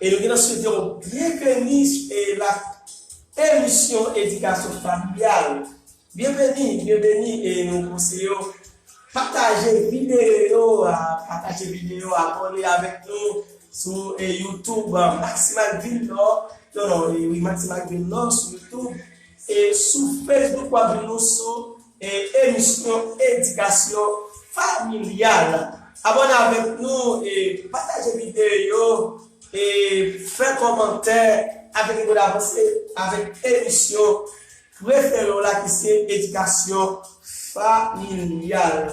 E nou gen nan swete w byenveni e la emisyon edikasyon familyal. Byenveni, byenveni e nou konseye w pataje videyo a, pataje videyo a, abòne avèk nou sou youtube Maximal Vil Nò, non non, wi Maximal Vil Nò sou youtube e sou facebook w ap jwenn nou sou. E emisyon edikasyon familyal. Abòne avèk nou e pataje videyo yo e fè kòmantè avèk nou pou n avanse avèk emisyon prefere w la ki se edikasyon familyal.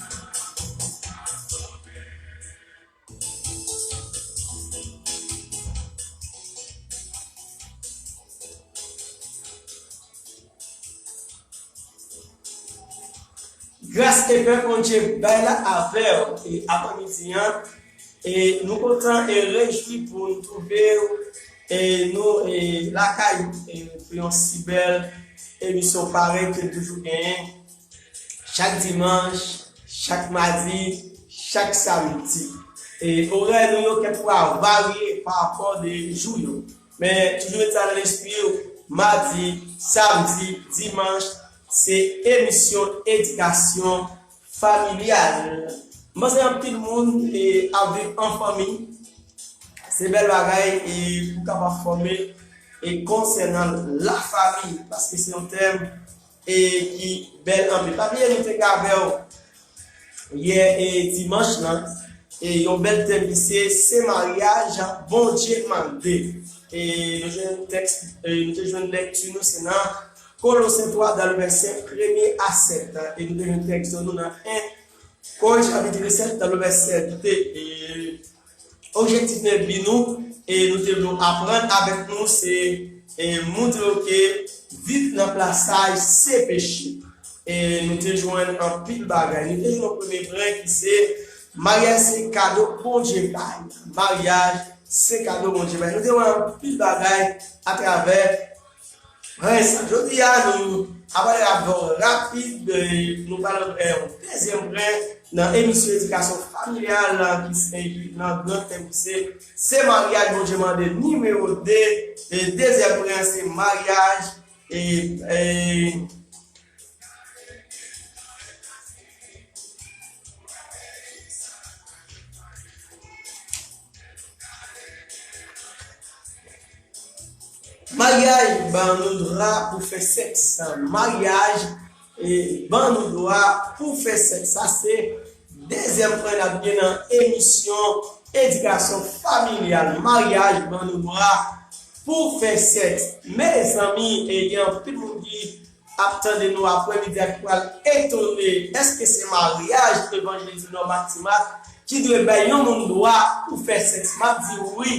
Gras e pè Bondye bay la avèw e aprè midi an e nou kontan e rejwi pou nou twouve w e nou e lakay e pou yon si bèl emisyon parèy ke nou toujou genyen. Chak dimanch, chak madi, chak samdi. E orè nou yo kèk fwa varye pa rapò de jou yo. Men toujou met sa nan lespri w, madi, samdi, dimanch se emisyon edikasyon familyal. M panse anpil moun ap viv an fanmi. Se bèl bagay e pou kapab fòme e konsènan lafami paske se yon tèm. E ki bèl anpil. Pa bliye nou te kavèw yè e dimanch lan e yon bèl tèm ki se se maryaj jan Bondye mande. E nou te jwenn tèks e nou te jwenn lèkti nou se nan Kolosen 3 dan le vèsè premye a 7 e nou te jwenn tèks nou nan 1 Korin chapit 7 dan le vèsè 2 e Objektif men bi nou e nou te vle w aprann avèk nou se e moutre w ke. Viv nan plasaj se peche. E nou te jwenn anpil bagay. Nou te jwenn premye pren ki se Maryaj se kado Bondye bay. Maryaj se kado Bondye bay. Nou te wè anpil bagay atravè. Mwen renmen sa. Jodi a nou abòde avk yon rapid nou pral fè yon dezyèm prè nan emisyon edikasyon familyal la ki se nan gran tèm ki se Se maryaj Bondye mande nimewo 2 e dezyèm prè an se maryaj e. Maryaj ban nou dra pou fè sèks. Maryaj ban nou dwa pou fè sèks. Sa se dezyèm pwen n ap gen nan emisyon Edikasyon Familyal. Maryaj ban nou dwa pou fè sèks. Mezanmi, gen anpil moun ki Ap tande nou aprè midi a ki pral etone eske se maryaj evanjelize nò mati mak ki dwe bay yon moun dwa pou fè sèks map di wi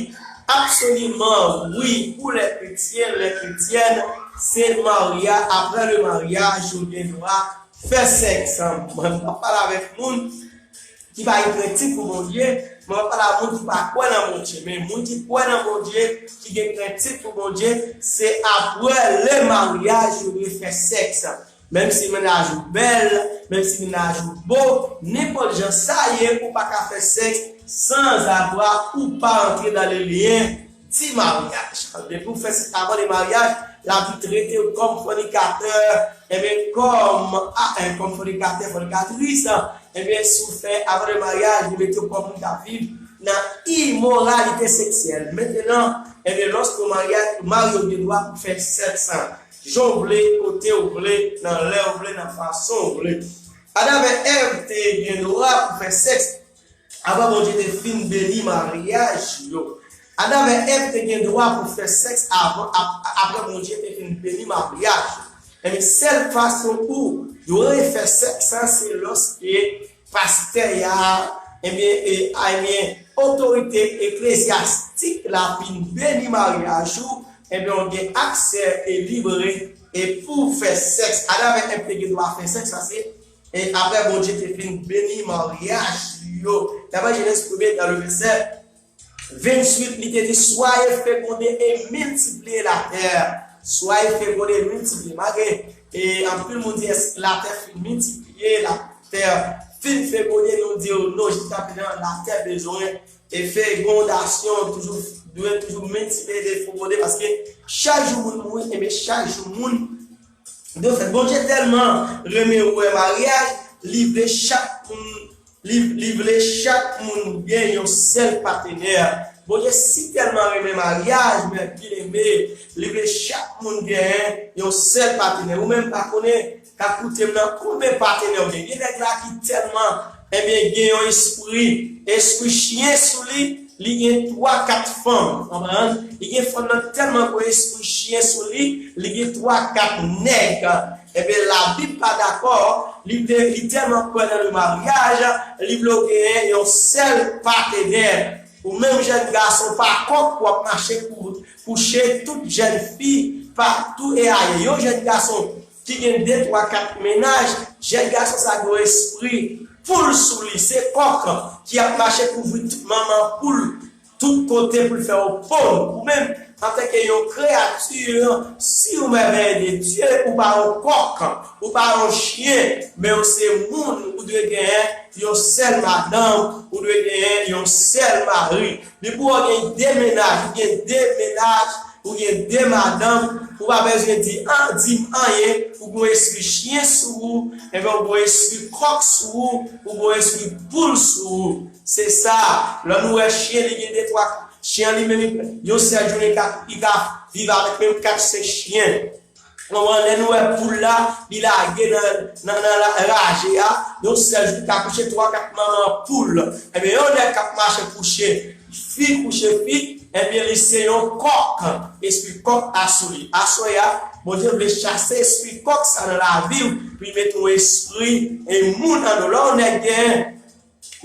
absoliman wi pou lè kretyen lè kretyèn se marya aprè le maryaj yo gen dwa fè sèks mwen pap pale avèk moun Ki pa gen krentif pou Bondye, mwen pa pale a moun ki pa kwè nan Bondye, men moun ki kwè nan Bondye, ki gen krentif pou Bondye, se apre lè maryaj yo dwe fè sèks. Menm si mennaj ou bèl, menm si mennaj ou bo, nenpòt jan sa ye ou pa ka fè sèks san zafra ou pa antre dan le lyen. Ti maryaj an depi ou fè se avan de maryaj la vit tretew kòm fònikatè enbyen kòm aah kòm fònikatè fònikatris enbyen si ou fè avan de maryaj li metew kòm moun kap viv nan imoralite seksyèl mentenan enbyen loske ou marye ou marye ou gen dwa pou fè sèks lan jan ou vle kote ou vle nan lè ou vle nan fason ou vle Adam et Ève te gen dwa pou fè sèks Apre Bondye te fin beni maryaj yo, Adan avèk Èv te gen dwa pou fè sèks avan ap apre Bondye te fin beni maryaj yo. Enben, sèl fason pou yo re fè sèks la se lòske pastè ya, enben, e, a, enben, otorite eklezyastik la fin beni maryaj ou, enben, ou gen aksè e libre e pou fè sèks. Adan avèk Èv te gen dwa fè sèks, sa se. E apre Bondye te fin beni maryaj li yo, daprè Genèse premye nan le vèsè 28, li te di, Soyez fécondés et multipliez la terre. Soyez fécondés et multipliez. Malgre e anpil moun di èske la tè fin miltipliye, la tè fin fekonde, nou di yo non, jiska prezan la tè bezwen e fekondasyon toujou dwe toujou miltipliye e fekonde paske chak jou moun mouri, ebyen chak jou moun Defèt, Bondye tèlman renmen wè maryaj, li vle chak moun li vle chak moun gen yon sèl patenè. Bondye si tèlman renmen maryaj, men byeneme, li vle chak moun gen yon sèl patenè. Ou menm pa konnen, k ap koute m nan, konbe patenè ou gen? Gen nèg la ki tèlman Ebyen gen yon espri espri chyen sou li li gen 3 4 fanm konprann li gen fanm nan tèlman gwo espri chyen sou li li gen 3 4 nèg ebyen la bib pa dakò li vle li tèlman kwè nan le maryaj li vle w genyen yon sèl patenè ou menm jèn gason pa kòk pou wap mache kouche tout jèn fi pa tou e aye yon jèn gason ki gen de twa kat mennaj, jèn gason sa gen yon espri poul sou li, se kòk ki ap mache kouvri tout manman poul tout kote pou l fè yon ponn, ou menm antanke yon kreyati siw mèvèye de Dye ou pa yon kòk, ou pa yon chyen men ou se moun ou dwe genyen yon sèl madanm, ou dwe genyen yon sèl mari, Li pou ou gen 2 mennaj, ou gen 2 mennaj, ou gen 2 madanm, ou pa bezwen di an, di m anyen, ou gon espri chyen sou ou, enben ou gon espri kòk sou ou, ou gon espri poul sou ou. Se sa, lò nou wè chyen li gen 2 twa, chyen an li menm yon sèl jounen li ka viv avèk menm 4 senk chyen. Konprann lè nou wè poul la li lage nan raje a yon sèl jou li ka kouche 3 4 manman poul ebyen yon nèg kap mache kouche fi kouche fi ebyen li se yon kòk espri kòk a sou li aswè ya Bondye vle chase espri kòk sa nan laviw pou li mete yon espri moun nan nou lè yon nèg gen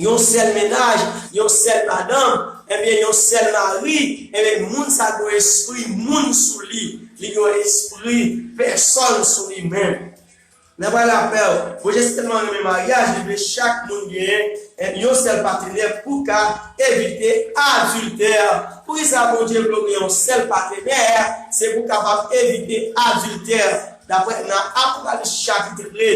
Yon sèl mennaj, yon sèl madanm, enbyen yon sèl mari, enbyen moun sa gen yon espri moun sou li, li gen yon espri pèsòn sou li menm. Nan pral apèl, Bondye se tèlman renmen maryaj li vle chak moun gen yon sèl patenè pou ka evite adiltè. Poukisa Bondye vle w gen yon sèl patenè? Se pou w kapab evite adiltè, daprè nan Apokalis chapit 2.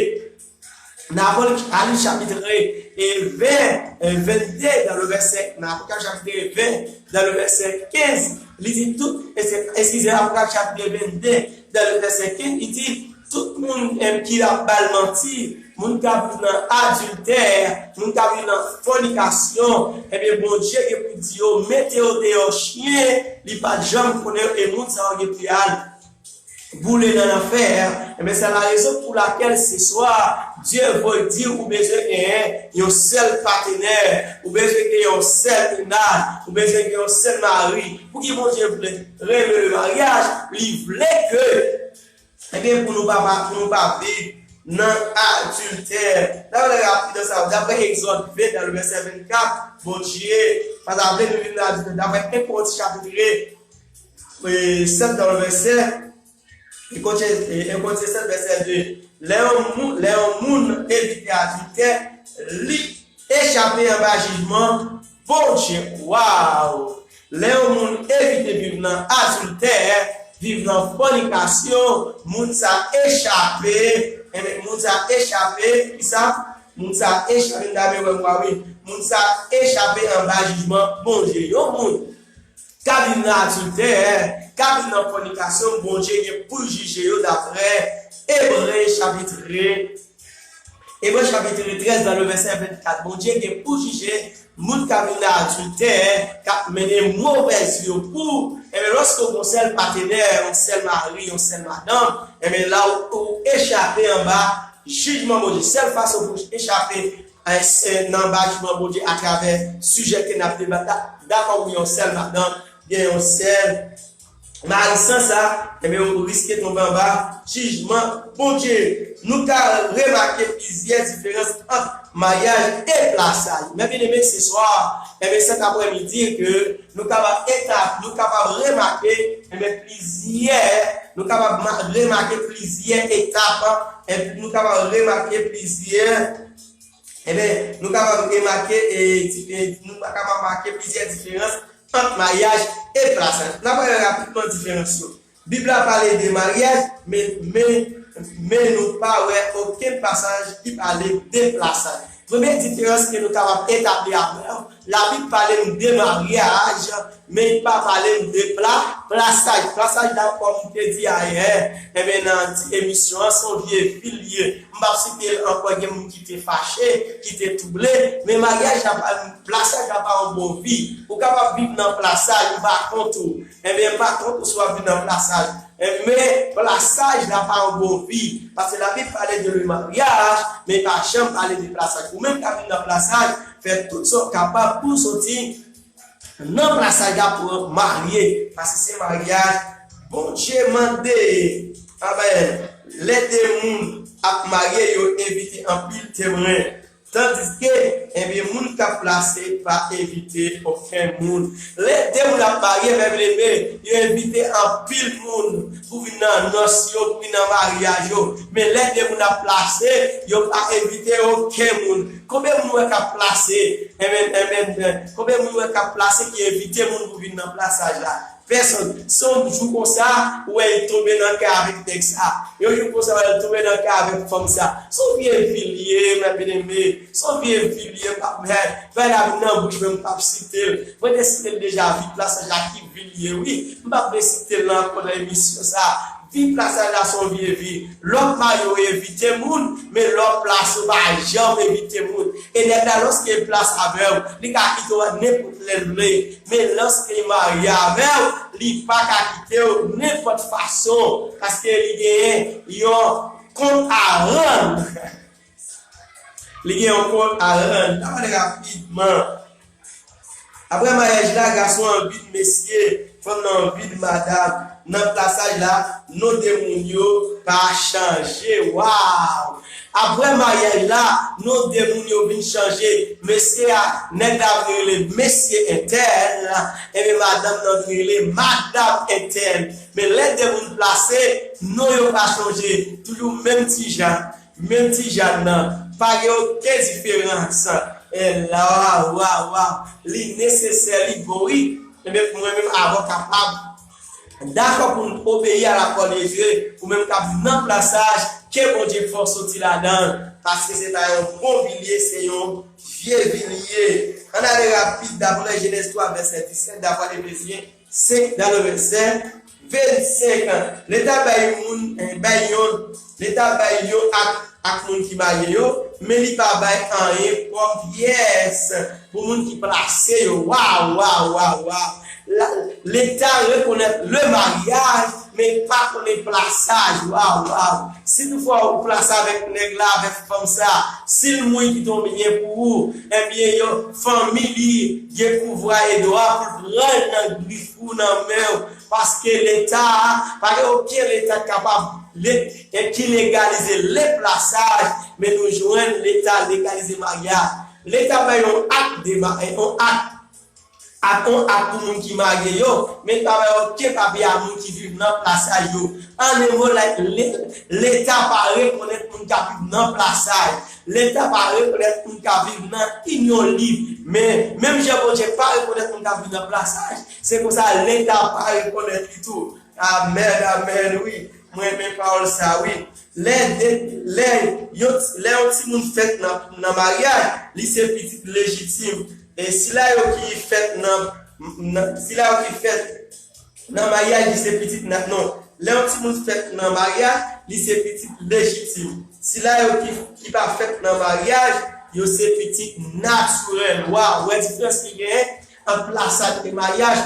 Nan Apokalip chapitre 1 et vè 22 dan le vèsè nan Apokalip chapitre 1 vè dan le vèsè 15 li di tout eskize Apokalip chapitre 22 dan le vèsè 15 li di tout moun èm ki ap bal manti moun ka viv nan adiltè moun ka viv nan fònikasyon ebyen Bondye gen pou di yo mete yo deyò chyen li pat janm konnen yo e moun sa yo gen pou yal Boule nan lanfè a, enben se la rezon pou lakèl se swa Dye voy di w ou bezwen genyen yon sèl patenè, ou bezwen gen yon sèl mennaj, ou bezwen gen yon sèl mari. Pouki Bondye vle renmen le maryaj? Li vle ke, enben pou nou pa pou nou pa viv nan adiltè. N ap gade rapidan sa yo. Daprè Egzòd 20 nan le vèsè 24, Bondye pa ta vle nou viv nan adiltè. Daprè 1 Korinti chapit 2. Sèl nan vèsè 2. Lè yon moun evite adiltè, li echape anba jijman Bondye. Waww! Lè yon moun evite viv nan adiltè, viv nan fònikasyon, moun sa echape, moun sa echape kisa? Moun sa echape, moun sa echape anba jijman Bondye. Yon moun. ka viv nan adiltè, ka viv nan fònikasyon, Bondye gen poul jije yo daprè Ebre chapitre Ebre chapitre 13 nan le vèsè 24 Bondye gen pou jije moun ka viv nan adiltè kap mennen movèz vi yo pou enben lòske ou gon sèl patenè yon sèl mari yon sèl madanm enben la ou echape anba jijman Bondye sèl fason pou echape Ayisyen nan anba jiman Bondye atravè sijè ke nap debat la, m dakò wi yon sèl madan gen yon sèl mari san sa enben ou riske tonbe anba jijman Bondye nou ka remake plizyè diferans ant maryaj e plas la yo men byeneme se swa enben 7 aprè midi ke Nou kapab eta, nou kapab remake, enben, plizyè, nou kapab ma, remake plizyè etap, en, nou kapab remake plizyè, enben, nou kapab remake, e, di, e, nou pa kapab make plizyè diferans ant mayaj e plas. N ap gade rapidman diferans yo. Bib la pale de maryaj, men men nou pa wè okenn pasaj ki pale de plasant. Premye diferans ke nou kapab etabli avè w, Labib pale n de maryaj, men li pa pale n de plasaj. Plasaj la, kòm m te di ayè, enben nan ti emisyon an, se yon vye fil li ye. M p ap site l ankò, gen moun ki te fache, ki te twouble, men maryaj la pa, plasaj la pa yon bon vi. Ou kapab viv nan plasaj, ou pa kont ou. Ebyen pa kont ou si wap vin nan plasaj men plasaj la pa yon bon vi paske labib pale de le maryaj men pa janm pale de plasaj ou menm kap vin nan plasaj fè tout sa ou kapab pouw soti nan plasaj la pouw marye paske se maryaj Bondye mande amen lè 2 moun ap marye yo envite anpil temwen. Tandiske, enben moun k ap plase pa envite okenn moun. Lè de moun ap marye, men byeneme, yo envite anpil moun pou vin nan nòs yo, pou vin nan maryaj yo. Men lè de moun ap plase, yo pa envite okenn moun. Konbe moun ou wè k ap plase? Enben, enben, konbe moun ou wè k ap plase ki envite moun pou vin nan plasaj la? Pèsonn. Se yon jou konsa ou wè li tonbe nan kè avèk nèg sa. Yon jou konsa ou wè li tonbe nan kè avèk fanm sa. Se yon vye vi li ye mwen byeneme. Se yon vye vi li ye m pap hè. Vay la vin nan bouch mwen m pap site l. Mwen te site l deja vi plas la ki vi li ye wi. M pap vle site l nan ankò nan emisyon sa. Vi plasaj la se yon vye vi. Lè w ap marye ou evite moun, men lè w ap plase ou pa janm evite moun. E nèg la lòske l plase avè w, li ka kite w a nenpòt lè l vle. Men lorsque li marye avèw li paka kitew nenpòt fason paske li gen yon kont a rand li gen yon kont a rand la pale rapidman aprè maryaj la gason an vid mesye fanm nan vid madam. Nan plasaj la, non 2 moun yo pa chanje. Waww! Aprè maryaj la, non 2 moun yo vin chanje. Mesye a, nèg la vin rele Mesye Entèl, enben madanm nan vin rele Madam Entèl. Men lè 2 moun plase, non yo pa chanje. Toujou menm ti Jan, menm ti Jan nan. Pa gen oken diferans. Ella, Waww, waww, waww! Li nesesè, li bon wi. Enben mwen menm avòka pam. Dakò pou n obeyi a lakòl de Dye, ou menm k ap viv nan plas saj, ke Bondye fè w soti ladan l, paske se pa yon bon vi l ye, se yon vye vi l ye. Ann ale rapid, daprè Jenèz 3 vèsè 17, daprè Efezyen 5 daprè vèsè 25, Leta bay yon moun, bay yon. Leta bay yo ak ak moun ki marye yo, men li pa bay anyen pwòp pyès pou moun ki plase yo. Waw waw waw waw la leta rekonèt le maryaj men l pa konnen plasaj waw waw si tou fwa ou plase avèk nèg la avèk fanm sa si l mouri kite yon byen pou ou ebyen yo fanmi li gen pouvwa e dwa pou l pran l nan grif ou nan men w Paske leta a pa gen oken leta kapab leta ki legalize le plasaj men nou jwenn leta legalize maryaj. Leta fè yon ak de maryaj yon ak ak yon ak pou moun ki marye yo men li pa bay oken papye a moun ki viv nan plasaj yo. An e mo like le leta pa rekonèt moun ka viv nan plasaj. Leta pa rekonèt moun ka viv nan inyon lib men menm jan Bondye pa rekonèt moun ka viv nan plasaj Se konsa Linda pa rekonèt li tou. Amen amen wi m renmen pawòl sa wi lè lè lè yon timoun fèt nan maryaj li se pitit lejitim e sila yo ki fèt nan sila yo ki fèt nan maryaj li se pitit nan non lè yon timoun fèt nan maryaj li se pitit lejitim sila yo ki pa fèt nan maryaj yo se pitit natirèl waw wè diferans ki genyen Ant plasaj e maryaj,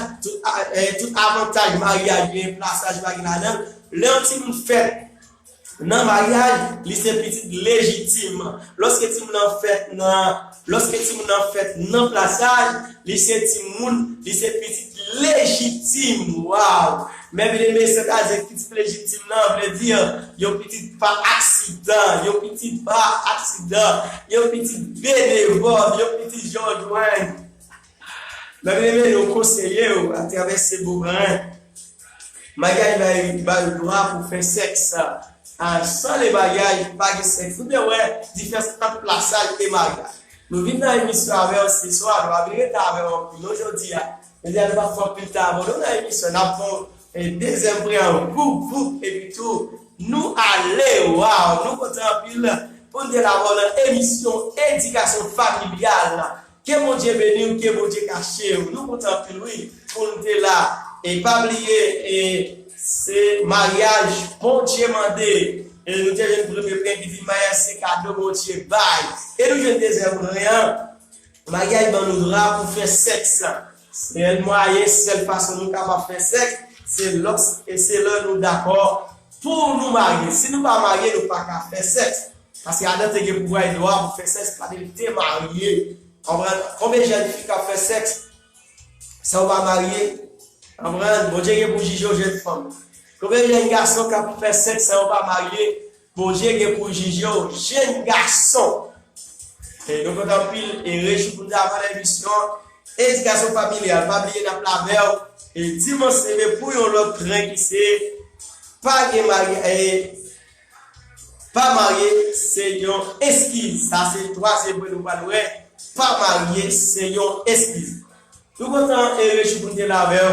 tout avantaj maryaj genyen plasaj pa gen ladan l. Lè yon timoun fèt nan maryaj, li se pitit lejitim. Lòske timoun nan fèt nan lòske timoun nan fèt nan plasaj, li se timoun, li se pitit lejitim. Waw! Mèvèy men sè ta di pitit lejitim nan vle di yon pitit pa aksidan, yon pitit pa aksidan, yon pitit benevòl, yon pitit jòjwenn. Map rele yo konseye yo a travè Sebo Marin. Magay bay ba yo dwa pou fè sèks a san le bagay pa gen sèks. Ou byen wè diferans ant plasaj e magay. Nou vin nan emisyon avèw se swa nou pa vin rete avèw anpil non jodi a. Jodi a nou pap fè anpil tan avèw non nan emisyon nap fèw dezyèm preyanp voup voup epi tou nou ale waw nou kontan anpil poun gen avèw nan emisyon edikasyon familyal Ke Bondye beniw ke Bondye kachew nou kontan anpil wi poun te la e pa bliye e se maryaj Bondye mande e nou te jwenn premye bren ki vin maryaj se kado Bondye bay e nou jwenn dezyèm bren an maryaj ban nou dra pou fè sèks. Sèl mwayen, sèl fason nou kapab fè sèks se lòs e se lè nou dakò pou nou marye. Si nou pa marye nou pa ka fè sèks. Paske Adan te gen pouvwa e dwa pou fè sèks paske li te marye. Konprann? Konbyen jèn fi kap fè sèks san yo pa marye? Konprann? Bondye gen pou jije yo jèn fanm. Konbyen jèn gason kap fè sèks san yo pa marye? Bondye gen pou jijew jenn gason. Hey nou kontan anpil e reji pou nou avan emisyon an edikasyon familyal pa bliye nap la vèw e dimanch seve pou yon lòt tren ki se pa gen maryaj e pa marye se yon eskiz sa se twazyèm pwen nou pral wè pa marye se yon eskiz nou kontan e reji pou nou te la vèw.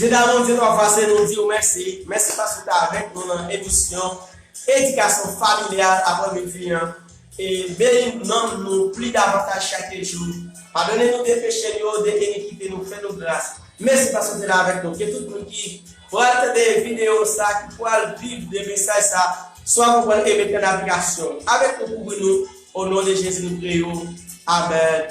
Dieu d'amour, Dieu papa, se nou di ou mèsi. Mèsi paske ta avèk nou nan emisyon Edikasyon Familyal apre midi an. E beni nanm nou pli davantaj chak jou. Padone nou de peche nou yo, de enikite nou, fè nou gras. Mèsi paske ou te la avèk nou. Ke tout moun ki pral tande videyo sa, ki pral viv de mesaj sa, swa konprann e mete an aplikasyon. Avèk nou, kouvri nou. O non de Jezi nou priye ou. Amen.